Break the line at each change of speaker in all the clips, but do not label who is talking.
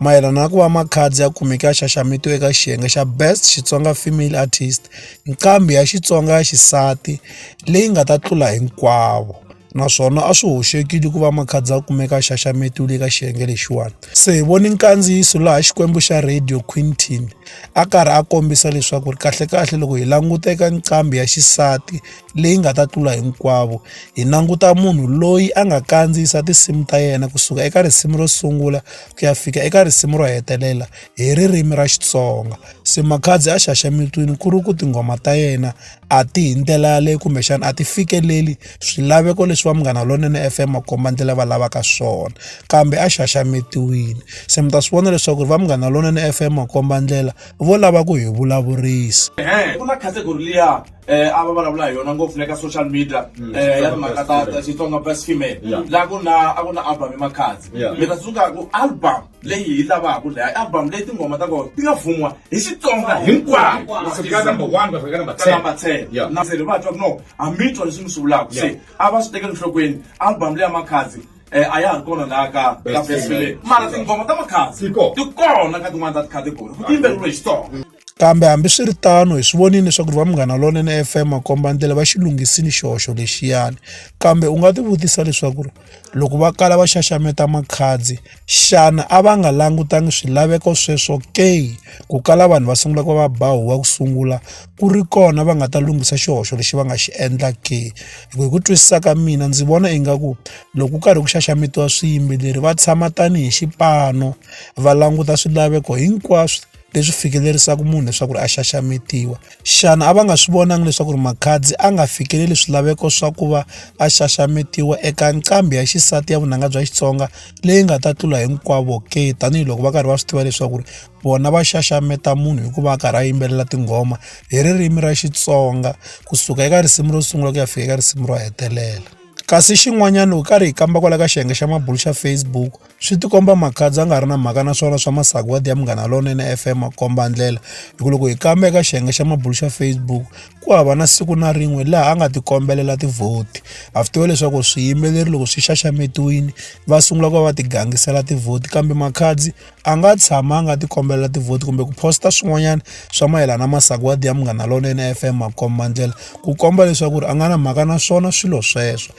mayelana na ku va Makhadzi ya kumeke a xaxametiwe eka xiyenge xa Best Xitsonga Female Artist, nqambi ya Xitsonga ya xisati leyi nga ta tlula hinkwavo. Naswona a swi hoxekile ku va Makhadzi a kumeka a xaxametiwile eka xiyenge lexiwani. Se hi vone nkandziyiso laha Xikwembu xa Radio Quintin a karhi a kombisa leswaku ri kahlekahle loko hi languta eka nqambi ya xisati leyi nga ta tlula hinkwavo hi languta munhu loyi a nga kandziyisa tinsimu ta yena kusuka eka risimu ro sungula ku ya fika eka risimu ro hetelela hi ririmi ra Xitsonga se Makhadzi a xaxametini ku ri ku tinghoma ta yena a ti hi ndlela yaleyo kumbexana a ti fikeleli swilaveko leswi va Munghana Lonene F_M makombandlela va lavaka swona kambe a xaxametiwile se mi ta swi vona leswaku ri va Munghana Lonene F_M makombandlela vo lava ku hi vulavurisa
eh a va vulavula hi yona ngopfu le ka social media Mm. eh ya timhaka ta ta Xitsonga best female Yeah. la ku na a ku na album ya Makhadzi Yeah. mi ta tsundzuka ku album leyi hi lavaka leyi album leyi tinghoma ta kona ti nga fumiwa hi Xitsonga hinkwayo Ku fika number one,
ku fika number ka 10. number 10 Yeah. na se
ri va twa ku no a mi twa leswi mi swi vulaka se Yeah. a va swi tekeli nhlokweni album leya Makhadzi eh a ya ha ri kona laha ka ka Best best female female. mara tinghoma ta Makhadzi Ti kona. ti kona ka tin'wana ta ti category ku tiyimbeleriwe hi Xitsonga Kambe hambiswiritano
hi swi vonile leswaku va Munghana Lonene F_M makombandlela va xi lunghisile xihoxo lexiyana. Kambe u nga tivutisa leswaku ri loko va kala va xaxameta makhadzi, xana a va nga langutanga swilaveko sweswo ke? Ku kala vanhu va sungula ku va va ba huwa ku sungula, ku ri kona va nga ta lunghisa xihoxo lexi va nga xi endla ke? Hi ku twisisa ka mina ndzi vona ingaku loko ku karhi ku xaxametiwa swiyimbeleri va tshama tanihi xipano, va languta swilaveko hinkwaswo. leswi fikelerisaka munhu leswaku ri a xaxametiwa xana a va nga swi vonangi leswaku ri makhadzi a nga fikeleli swilaveko swa ku va a xaxametiwa eka nqambi ya xisati ya vunanga bya xitsonga leyi nga ta tlula hinkwavo ke tanihiloko va karhi va swi tiva leswaku ri vona va xaxameta munhu hikuva a karhi a yimbelela tinghoma hi ririmi ra xitsonga kusuka eka risimu ro sungula ku ya fika eka risimu ro hetelela kasi xin'wanyana hi karhi hi kamba kwala ka xiyenge xa mabulo xa Facebook swi tikomba makhadzi a nga ri na mhaka na swona swa masagwadi ya munghana lonene f m komba ndlela hi ku loko hi kamba eka xiyenge xa mabulu xa facebook ku hava na siku na rin'we laha a nga tikombelela tivhoti a swi tiva leswaku swiyimbeleri loko swi xaxametiwile va sungula ku va va tigangisela tivhoti kambe makhadzi a nga tshama a nga tikombelela tivhoti kumbe ku posta swin'wanyana swa mayelana masagwadi ya munghana lonene f m komba ndlela ku komba leswaku ri a nga na mhaka na swona swilo sweswo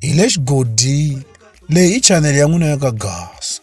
hi le xigodini leyi i chanele ya n'wina ya ka gasa